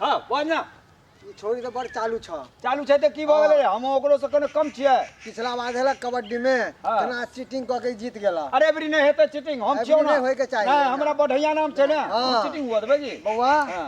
हाँ बोल ना ई छोरी तो बड़ चालू छ चालू छै तऽ की भऽ गेलै हम ओकरो से कने कम छियै पिछला बार हेला कबड्डी में हाँ। केना चीटिंग कऽ के जीत गेला अरे एबरी नहि हेतै चीटिंग हम एबरी छियौ ना नहि होइके चाही। नहि हमरा बढ़िया नाम छै ने हाँ। चीटिंग हुआ देबै जी बौआ हाँ।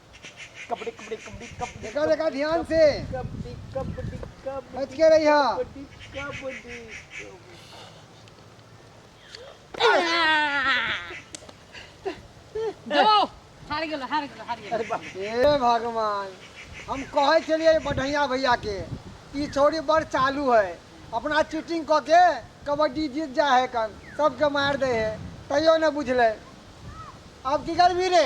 कबड्डी कबड्डी कबड्डी कबड्डी देखा देखा ध्यान से कबड्डी कबड्डी कबड्डी बच के रहिया कबड्डी कबड्डी जाओ हार गेलो हार गेलो हार गेलो अरे बाप रे। हे भगवान हम कहे छलिए बढ़िया भैया के ई छौड़ी बड़ चालू है अपना चीटिंग कऽ के कबड्डी जीत जा है कन सबके मार दे है तैयो ने बुझले अब की करबी रे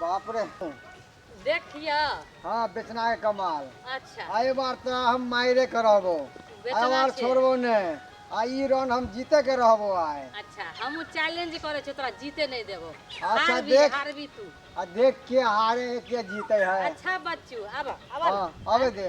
बाप रे देखिया हाँ बेचना है कमाल अच्छा आए बार तो हम मायरे के रहबो बेचना आए बार छै। छोड़बो ने आ ई रन हम जीते के रहबो आए अच्छा हम चैलेंज करे छो तोरा जीते नहीं देबो अच्छा, हारबी देख। हारबी तू आ देख के हारे के जीते है अच्छा बच्चू अब अब हाँ आवे दे